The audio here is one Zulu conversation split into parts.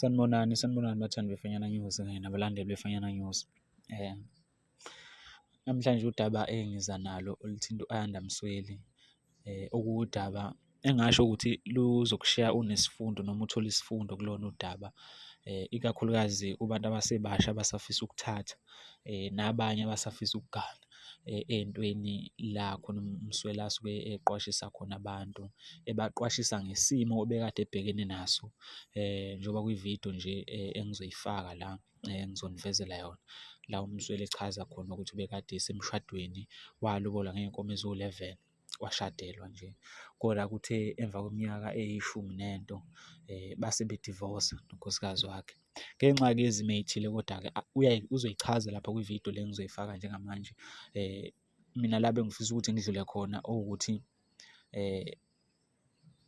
Sanibonani, sanibonani bathandi beFanyana News kanye nabalandeli beFanyana News. Eh, namhlanje udaba engiza nalo oluthinta u-Ayanda Msweli okuwudaba engingasho ukuthi luzokushiya unesifundo noma uthole isifundo kulona udaba, ikakhulukazi kubantu abasebasha abasafisa ukuthatha nabanye abasafisa ukugana ey'ntweni la khona umsweli asuke eqwashisa khona abantu, ebaqwashisa ngesimo obekade ebhekene naso njengoba kwi-video nje engizoyifaka la. Ngizonivezela yona la uMzweli echaza khona ukuthi ubekade esemshadweni walobola ngey'nkomo eziwu-eleven washadelwa nje, koda kuthe emva kweminyaka eyishumi nento base bedivosa nonkosikazi wakhe. Ngenxa-ke yezimo ey'thile koda-ke uzoyichaza lapha kwi-video le engizoyifaka njengamanje. Mina la bengifisa ukuthi ngidlule khona owukuthi .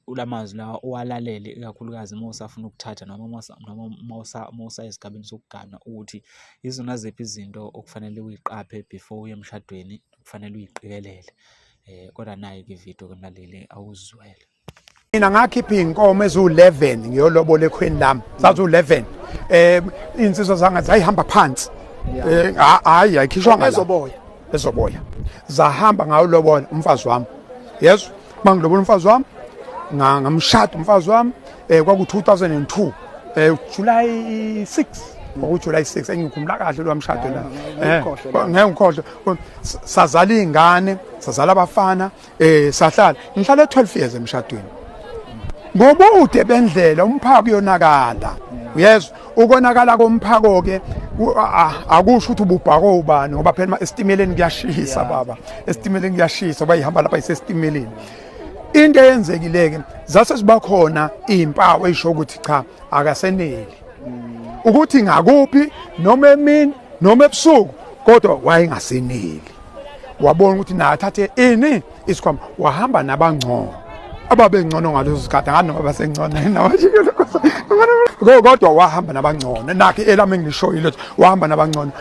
ula mazwi lawa uwalalele ikakhulukazi uma usafuna ukuthatha noma uma usayesigabeni sokugana ukuthi izona ziphi izinto okufanele uyiqaphe before uye emshadweni okufanele uyiqikelele. Um kodwa nayi-ke ividiyo ke mlaleli awuzizwele. Mina ngakhipha iy'nkomo eziwu-11 ngiyolobola ekhweni lami zaziwu-11 um iy'nsizwa zangathi zayihamba phansi um hhayi ayikhishwanga ezoboya zahamba ngayo lobola umfazi wami yezwa uma ngilobola umfazi wami ngamshada umfazi wami um kwaku-2002 um eh, july 6 kwakujuly 6 engikhumbula kahle lowa mshado la eh, ngeke ngikhohlwe sazala iy'ngane sazala abafana Eh sahlala ngihlale 12 years emshadweni. Ngobude bendlela umphako uyonakala. Uyezwa ukonakala komphako ke akusho ukuthi ububhako ubani ngoba phela esitimeleni kuyashisa baba. Esitimeleni kuyashisa bayihamba lapha isesitimeleni. Into eyenzekileke zase siba khona izimpawu ezisho ukuthi cha akaseneli. Ukuthi ngakuphi noma emini noma ebusuku kodwa wayengaseneli. wabona ukuthi naye athathe ini isikhwama wahamba nabangcono ababengcono ngalezo zikhathi nganoma basengconeni nabashikile kodwa wahamba nabangcono nakhe elami engilishoyo lethu wahamba nabangcono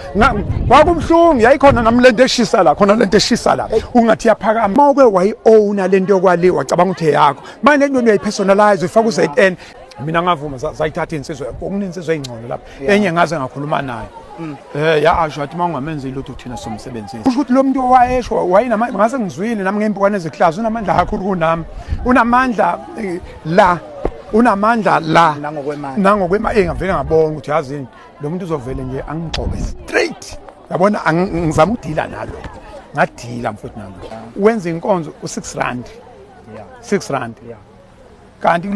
kwakubuhlungu yayikhona nami lento eshisa la khona lento eshisa la ungathi yaphakama uma uke wayi-owna lento yokwali wacabanga ukuthi eyakho manje lento uyayipersonalize uyifaka u-zn mina ngavuma zayithatha insizwa okunintsizwa eyingcono lapho enye ngaze ngakhuluma naye mm. eh ya asho athi mawungamenzi lutho thina somsebenzisi kusho ukuthi lo muntu owayesho wayinama ngase ngizwile nami ngempukwane eziklazi unamandla kakhulu kunami unamandla eh, la unamandla la nangokwemali nangokwemali eh, engavele ngabona ukuthi yazini lo muntu uzovele nje angigxobe straight yabona ngizama ukudila nalo ngadila mfowethu nalo wenza inkonzo u6 rand 6 rand yeah kanti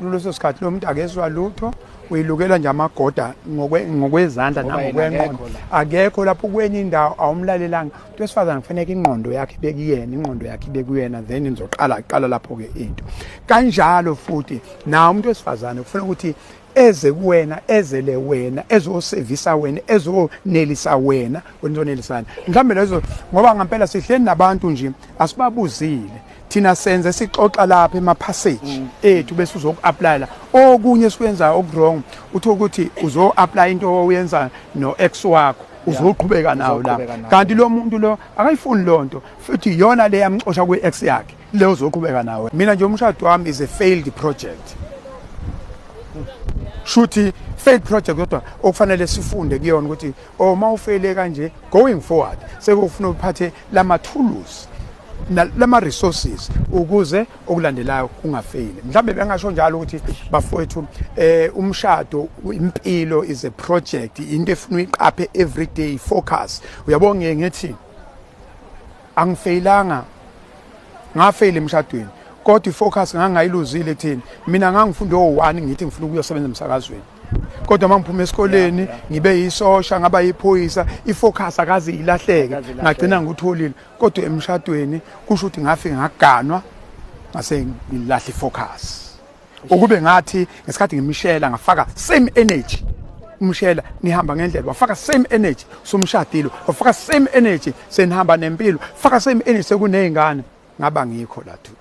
kuleso sikhathi lo muntu akezwa lutho uyilukelwa nje amagoda ngokwezandla nangokwenqondo akekho lapho kwenye indawo awumlalelanga into esifazane kufaneke ingqondo yakhe ibekuyena ingqondo yakhe ibekuyena then nizoqala qala lapho-ke into kanjalo futhi nawo umuntu wesifazane kufuna ukuthi eze kuwena ezele wena ezosevisa wena ezonelisa wena wena uzonelisana mhlawumbe lezo ngoba ngampela sihleli nabantu nje asibabuzile thina senze sixoxa lapha emaphasage mm. ethu bese uzoku-aplayela okunye esikwenzayo okuwrong uthi ukuthi uzo-aplaya into oyenza no-ex wakho uzoqhubeka nawo la kanti lo muntu lo akayifuni loo nto futhi iyona le yamxosha kwi-ex yakhe le uzoqhubeka nawe mina nje umshado wami is a failed project shuthi failed project kodwa okufanele sifunde kuyona ukuthi uma oh, ufeyile kanje going forward sekufuna uphathe lamathuluzi lama resources ukuze okulandelayo kungafeyili mhlambe bengasho njalo ukuthi bafowethu eh umshado impilo is a project into efuna uyiqaphe everyday focus uyabo ngeke ngithi angifeyilanga ngafeyile emshadweni kodwa ifocus ngangayiluzile kuthini mina ngangifunda o1 ngithi ngifuna ukuyosebenza emsakazweni kodwa uma ngiphuma esikoleni ngibe yisosha ngaba yiphoyisa ifocus akaze ilahleke ngagcina ngikutholile kodwa emshadweni kusho ukuthi ngafike ngaganwa ngase ngilahle ifocus ukube ngathi ngesikhathi ngimishela ngafaka same energy umshela nihamba ngendlela wafaka same energy somshadilo wafaka same energy senihamba nempilo faka same energy sekunezingane ngaba ngikho la today